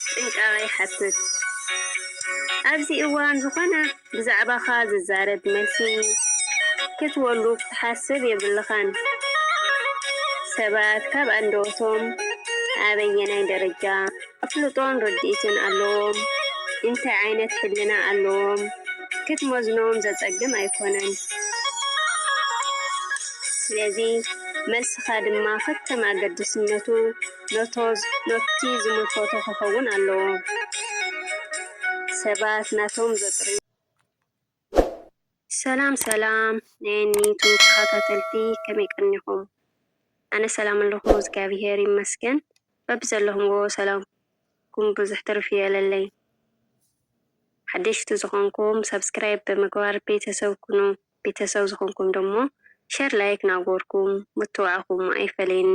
ጥንቃቐ ይሓትት። ኣብዚ እዋን ዝኾነ ብዛዕባኻ ዝዛረብ መልሲ ክትበሉ ክትሓስብ የብልካን። ሰባት ካብ ኣንደበቶም ኣበየናይ ደረጃ ኣፍልጦን ርድኢትን ኣለዎም፣ እንታይ ዓይነት ሕልና ኣለዎም ክትመዝኖም ዘጸግም ኣይኮነን። ስለዚ መልስኻ ድማ ከከም ኣገድስነቱ። ነቶ ነቲ ዝምልከቶ ክኸውን ኣለዎ። ሰባት ናቶም ዘጥርዩ። ሰላም ሰላም ናይ ን ዩቱብ ተካታተልቲ ከመይ ቀኒኩም ኣነ ሰላም ኣለኩ እዝጋቢሄር ይመስገን በቢ ዘለኩምዎ ሰላም ኩም ቡዙሕ ትርፍ ይበለለይ ሓደሽቲ ዝኮንኩም ሳብስክራይብ ብምግባር ቤተሰብ ኩኑ ቤተሰብ ዝኮንኩም ደሞ ሸር ላይክ ናገርኩም ምትብባዕኩም ኣይፈለየኒ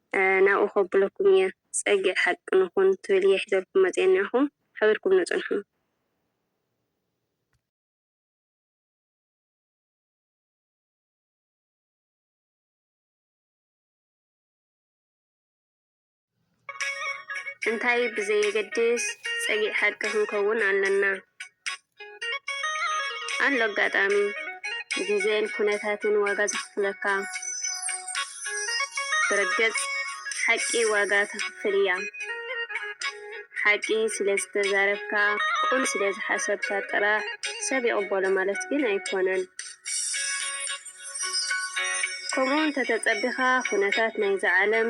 ናብኡ ከብለኩም እየ ጸግዒ ሓቂ ንኹን ትብል እየ ሒዘልኩም መጽየ እንኣኹም ሓቢርኩም ንጽንሑ። እንታይ ብዘየገድስ ጸግዒ ሓቂ ክንከውን ኣለና። ኣሎ ኣጋጣሚ ግዜን ኩነታትን ዋጋ ዘኽፍለካ ብርግጽ ሓቂ ዋጋ ተኽፍል እያ ሓቂ ስለ ዝተዛረብካ ቁም ስለ ዝሓሰብካ ጥራሕ ሰብ ይቕበሎ ማለት ግን ኣይኮነን ከምኡ እንተተጸቢኻ ኩነታት ናይዛ ዓለም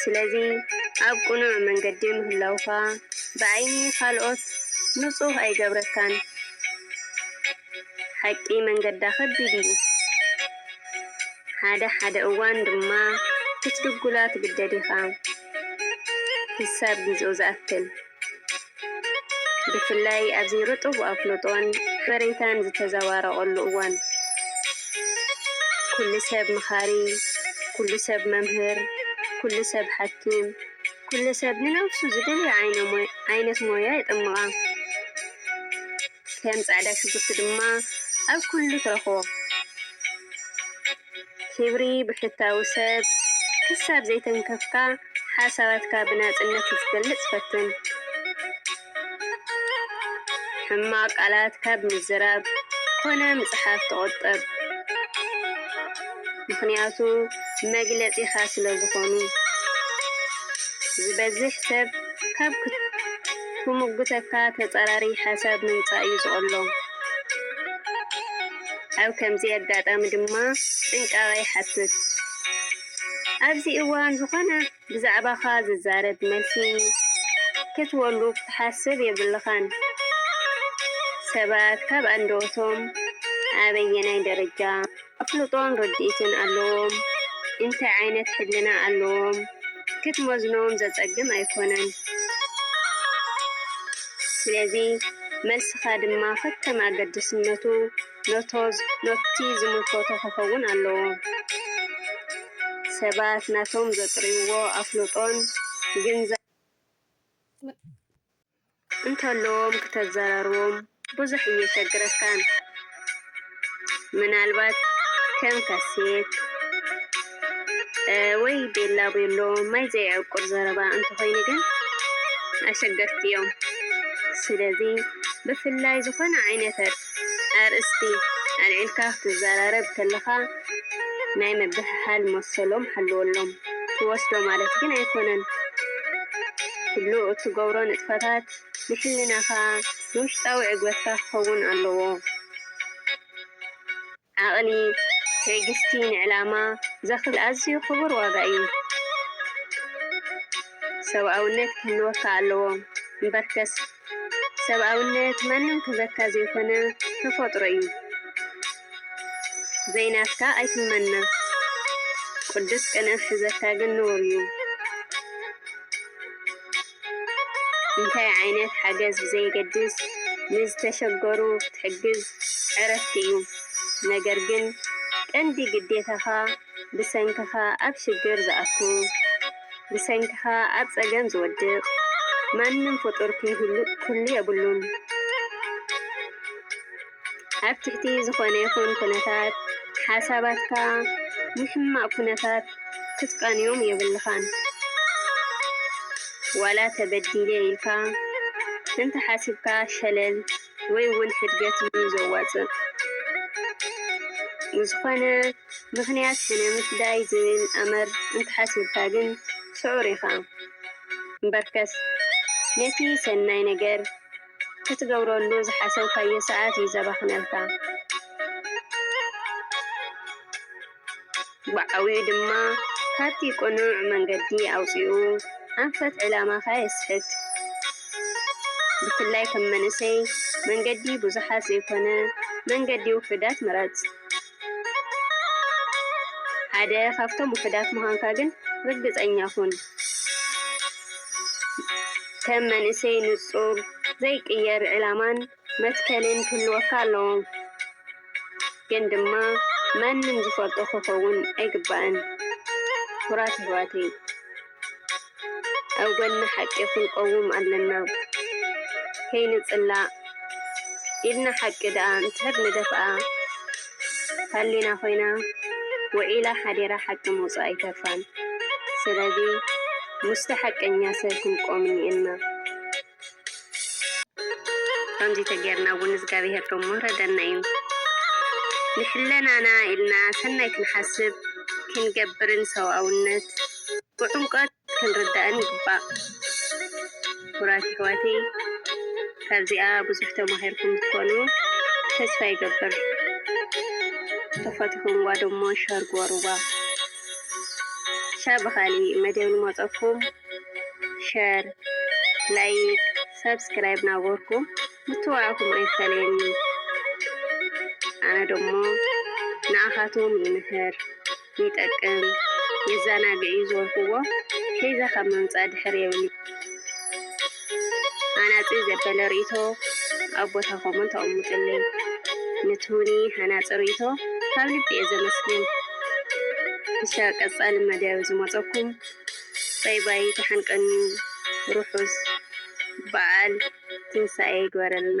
ስለዚ ኣብ ቅኑዕ መንገዲ ምህላውካ ብዓይኒ ካልኦት ንጹህ ኣይገብረካን። ሓቂ መንገዳ ከቢድ እዩ፣ ሓደ ሓደ እዋን ድማ ክትድጉላ ትግደድ ኢኻ፣ ክሳብ ግዜኡ ዝኣክል። ብፍላይ ኣብዚ ርጡብ ኣፍልጦን ሓበሬታን ዝተዘባረቐሉ እዋን፣ ኩሉ ሰብ መኻሪ፣ ኩሉ ሰብ መምህር፣ ኩሉ ሰብ ሓኪም፣ ኩሉ ሰብ ንነብሱ ዝደልዮ ዓይነት ሞያ የጥምቓ። ከም ጻዕዳ ሽጉርቲ ድማ ኣብ ኩሉ ትረኽቦ። ክብሪ ብሕታዊ ሰብ ክሳብ ዘይተንከፍካ ሓሳባትካ ብናጽነት ክትገልጽ ፈትን። ሕማቕ ቃላት ካብ ምዝራብ ኮነ ምጽሓፍ ተቖጠብ፣ ምኽንያቱ መግለጺኻ ስለዝኾኑ። ዝበዝሕ ሰብ ካብ ክሙግተካ ተጻራሪ ሓሳብ ምምጻእ እዩ ዝቐሎ። ኣብ ከምዚ ኣጋጣሚ ድማ ጥንቃቐ ይሓትት። ኣብዚ እዋን ዝኾነ ብዛዕባኻ ዝዛረብ መልሲ ክትወሉ ክትሓስብ የብልኻን። ሰባት ካብ ኣንደበቶም ኣበየናይ ደረጃ ኣፍልጦን ርድኢትን ኣለዎም ኢንታይ ዓይነት ሕልና ኣለዎም ክትመዝኖም ዘጸግም ኣይኮነን ስለዚ መልስኻ ድማ ከከም ኣገድስነቱ ኖቲ ዝምልከቶ ክኸውን ኣለዎ ሰባት ናቶም ዘጥርይዎ ኣፍልጦን ግንዛበን እንተለዎም ክተዘራርቦም ብዙሕ እየሸግረካን ምናልባት ከም ካሴት ወይ ቤላ ቤሎ ማይ ዘይዕቁር ዘረባ እንተኾይኑ ግን ኣሸገርቲ እዮም። ስለዚ ብፍላይ ዝኾነ ዓይነት ኣርእስቲ ኣልዒልካ ክትዘራረብ ከለኻ ናይ ምብህሃል መሰሎም ሓልወሎም። ትወስዶ ማለት ግን ኣይኮነን። ኩሉ እትገብሮ ንጥፈታት ንሕልናኻ፣ ንውሽጣዊ ዕግበትካ ክኸውን ኣለዎ። ዓቕሊ፣ ትዕግስቲ፣ ንዕላማ ዘኽል ኣዝዩ ክቡር ዋጋ እዩ። ሰብኣውነት ክህልወካ ኣለዎ። እምበርከስ ሰብኣውነት ማንም ክህበካ ዘይኮነ ተፈጥሮ እዩ። ዘይናትካ ኣይትመነ። ቅዱስ ቅንኢ ክሕዘካ ግን ነውር እዩ። እንታይ ዓይነት ሓገዝ ብዘየገድስ ንዝተሸገሩ ክትሕግዝ ዕረፍቲ እዩ። ነገር ግን ቀንዲ ግዴታኻ ብሰንክኻ ኣብ ሽግር ዝኣቱ፣ ብሰንክኻ ኣብ ጸገም ዝወድቅ ማንም ፍጡር ክህሉ የብሉን። ኣብ ትሕቲ ዝኾነ ይኹን ኩነታት ሓሳባትካ ንሕማቕ ኩነታት ክትቃንዮም የብልኻን። ዋላ ተበዲለ ኢልካ እንተሓሲብካ ሸለል ወይ እውን ሕድገት እዩ ዘዋፅእ። ንዝኾነ ምኽንያት ሕነ ምፍዳይ ዝብል ኣምር እንተሓሲብካ ግን ስዑር ኢኻ። እምበርከስ ነቲ ሰናይ ነገር ክትገብረሉ ዝሓሰብካዮ ሰዓት እዩ ዘባኽነልካ። ብዓቢኡ ድማ ካብቲ ቅኑዕ መንገዲ ኣውጺኡ ኣንፈት ዕላማኻ የስሕት። ብፍላይ ከም መንእሰይ መንገዲ ብዙሓት ዘይኮነ መንገዲ ውሑዳት ምረጽ። ሓደ ካብቶም ውሑዳት ምዃንካ ግን ርግጸኛ ኩን። ከም መንእሰይ ንጹር ዘይቅየር ዕላማን መትከልን ክህልወካ ኣለዎ። ግን ድማ ማንም ዝፈልጦ ክኸውን ኣይግባእን። ኩራት የሕዋተይ። ኣብ ጎኒ ሓቂ ክንቆውም ኣለና ከይንጽላእ ኢድና ሓቂ ድኣ እንትሕብ ንደፍኣ ሃሊና ኮይና ውዒላ ሓዲራ ሓቂ ምውጽኣ ኣይተርፋን ስለዚ ምስቲ ሓቀኛ ሰብ ክንቆም እኒኤና። ከምዚ ተገይርና እውን እዝጋቢሄር ዶ ምውረደና እዩ ንሕለናና ኢልና ሰናይ ክንሓስብ ክንገብርን ሰውኣውነት ብዑምቀት ክንርዳእን ይግባእ ኩቡራት ይሕዋተይ ካብዚኣ ብዙሕ ተማሂርኩም ትኮኑ ተስፋ ይገብር ተፈትሕዋ ዶሞ ሸር ግበርዋ ሻብ ብካሊእ መደብ ንመፀኩም ሸር ላይክ ሰብስክራይብ ናበርኩም ምትብባዕኩም ኣይፈለየኒ ኣነ ደሞ ንኣኻቶም ይምህር ይጠቅም የዘናግዕ እዩ ዝበልክዎ ሒዘ ካብ ምምፃእ ድሕር የብሊ ሃናፂ ዘበለ ርእቶ ኣብ ቦታኹምን ተቐምጡልኝ ንትውኒ ሃናፂ ርእቶ ካብ ልቢ እየ ዘመስግን ክሻ ቀፃሊ መደብ ዝመፀኩም ባይ ባይ ዳሓን ቀንዩ ሩሑስ ባዓል ትንሳኤ ይግበረልና።